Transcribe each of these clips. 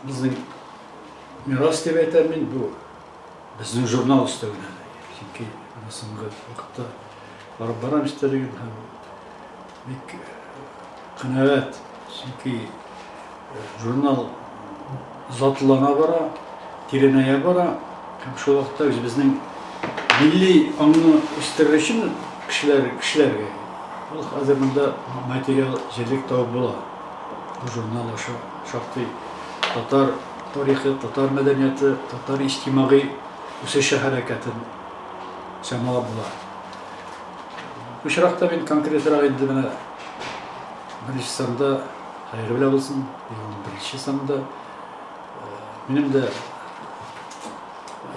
Безнең мирас дип әйтәм мин, бу безнең журнал өстәвенә. Чөнки соңгы вакытта барып барам истәлеген һәм бик канәгать, чөнки журнал затлана бара, тирәнәя бара һәм шул вакытта үзебезнең милли аңны үстерер өчен кешеләр, кешеләргә ул хәзер монда материал җирлек табып була. Бу журнал аша шактый татар тарихы, татар мәдәнияты, татар иҗтимагый үсеше хәрәкәтен чамалап була. Бу очракта мин конкретрак инде менә беренче санда хәерле белә булсын, елның беренче санында минем дә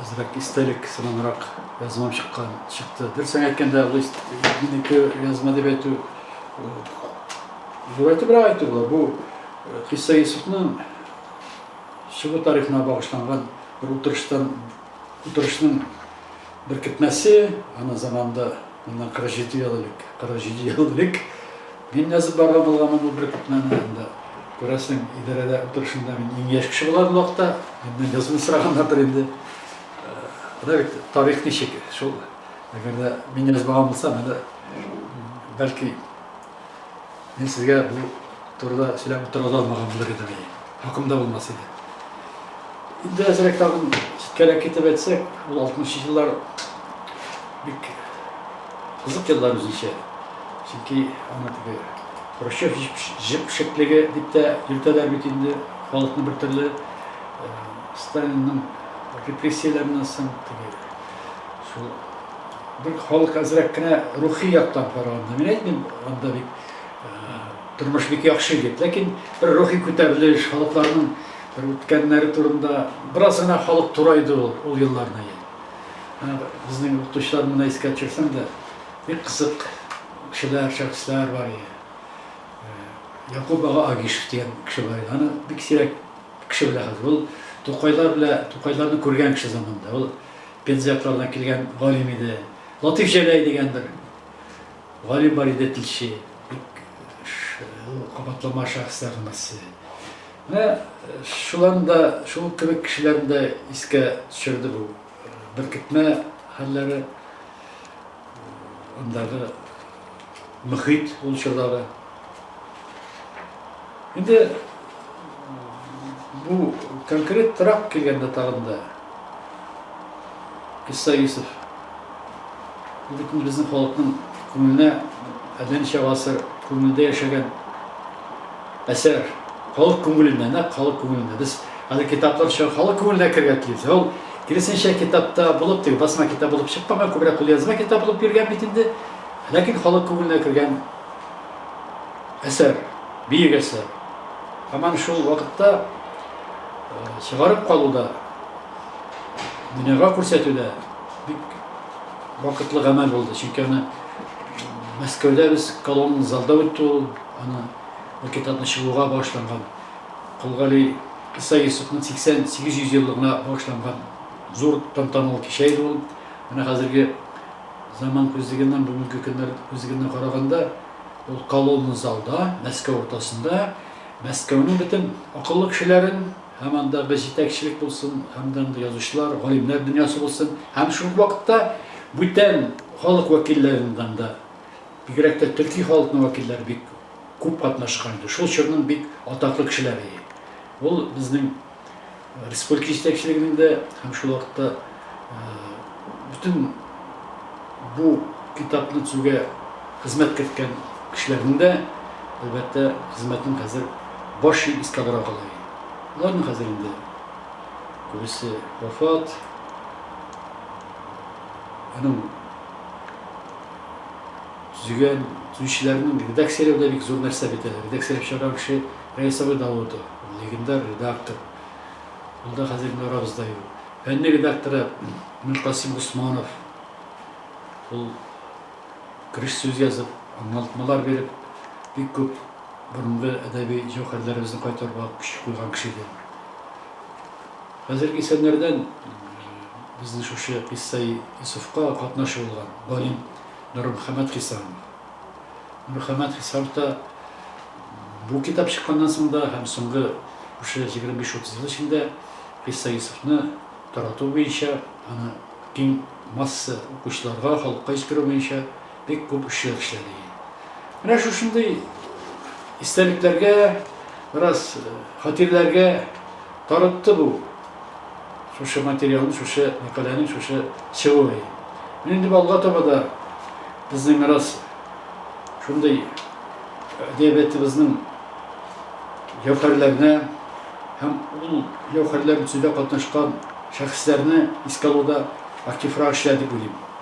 әзрәк истәлек сыманрак язмам чыккан чыкты. Дөресен әйткәндә, ул минеке язма дип әйтү Зурайтыбрак әйтү була, бу Гыйса Йосыфның чыгу тарихына багышланган бер утырыштан, утырышның беркетмәсе, аның заманында, моннан 47 ел элек, 47 ел элек мин язып барган булганмын бу беркетмәне, анда, күрәсең, идарәдә утырышында мин иң яшь кеше булган вакытта, миннән язуны сораганнардыр инде. Менә бит тарих ничек, шул, әгәр дә мин язмаган булсам, әле, бәлки, Мин сезгә бу турыда сөйләп тора да алмаган булыр идем, и хакым да булмас иде. Инде әзрәк тагын читкәрәк китеп әйтсәк, ул 60 еллар бик кызык еллар үзенчә. Чөнки аны теге Хрущев җепшеклеге дип тә йөртәләр бит инде халыкны бер төрле Сталинның репрессияләреннән соң теге шул Бик халык әзрәк кенә рухи яктан караганда, мин әйтмим, анда бит тормыш бик яхшы дип, ләкин бер рухи күтәрелеш, халыкларның бер үткәннәре турында бераз гына халык турайды ул, ул елларны я. Безнең укытучылар моны искә төшерсәм дә, бик кызык кешеләр, шәхесләр бар иде. Якуб ага Агишев дигән кеше бар иде. Аны бик сирәк кеше белә хәзер. Ул Тукайлар белән, Тукайларны күргән кеше заманында. Ул Пензяклардан килгән галим иде. Латыйф Җәләй дигән бер галим бар иде, телче. Бик кабатлама шәхесләрнең берсе. Менә шуларны да, шул кебек кешеләрне дә искә төшерде бу беркетмә хәлләре. Андагы мөхит ул чордагы. Инде бу конкрет торак килгәндә тагын да Исса Юсов. Бөтен безнең халыкның күңеленә әллә ничә гасыр күңелдә яшәгән Әсәр, халык күңелендә, нәкъ халык күңелендә. Без хәзер китаплар чыгар, халык күңеленә керергә тиеш. Ә ул, киресенчә, китапта булып, теге басма китап булып чыкмаган, күбрәк кулъязма китап булып йөргән бит инде. Ләкин халык күңеленә кергән әсәр, биек әсәр. Һаман шул вакытта чыгарып калуда, дөньяга күрсәтүдә бик вакытлы гамәл булды. Чөнки аны Мәскәүдә без колонн залда үтте ул, аны бу китапны чыгуга багышланган, Кол Гали Иса Йосыфның 8800 еллыгына багышланган зур тантаналы кичә иде ул. Менә хәзерге заман күзлегеннән, бүгенге көннәр күзлегеннән караганда, ул колонна залда, Мәскәү уртасында, Мәскәүнең бөтен акыллы кешеләрен һәм андагы җитәкчелек булсын, һәм дә андый язучылар, галимнәр дөньясы булсын, һәм шул ук вакытта бүтән халык вәкилләреннән дә, Бигрәк тә төрки халыкның вәкилләре бик күп катнашкан иде. Шул чорның бик атаклы кешеләре иде. Ул безнең республика җитәкчелегенең дә һәм шул вакытта бөтен бу китапны төзүгә хезмәт керткән кешеләрнең дә, әлбәттә, хезмәтен хәзер баш ир искә алырга кала иде. Аларның хәзер инде күбесе вафат. Аның төзегән, төзүчеләрнең редакцияләү дә бик зур нәрсә бит әле. Редакцияләп чыгарган кеше Раиса абый Даутова, легендар редактор. Ул да хәзер инде арабызда юк. Фәнни редакторы Миркасыйм Госманов. Ул кереш сүз язып, аңлатмалар биреп, бик күп борынгы әдәби җәүһәрләребезне кайтаруга көч куйган кеше иде. Хәзерге исәннәрдән безнең шушы Кыйссаи Йосыфка катнашы булган галим Нурмөхәммәт Хисамов. Нурмөхәммәт Хисамов та бу китап чыкканнан соң да һәм соңгы шушы егерме биш-утыз ел эчендә Кыйссаи Йосыфны тарату буенча, аны киң масса укучыларга, халыкка җиткерү буенча Бик күп эшчән эшләде. Менә шушындый истәлекләргә, бераз хатирәләргә тарытты бу шушы материалның, шушы мәкаләнең шушы чыгуы. Мин инде алга таба да безнең бераз шундый әдәбиятыбызның җәүһәрләренә һәм ул җәүһәрләр үсүдә катнашкан шәхесләрне искә алуда активрак эшләр дип уйлыйм.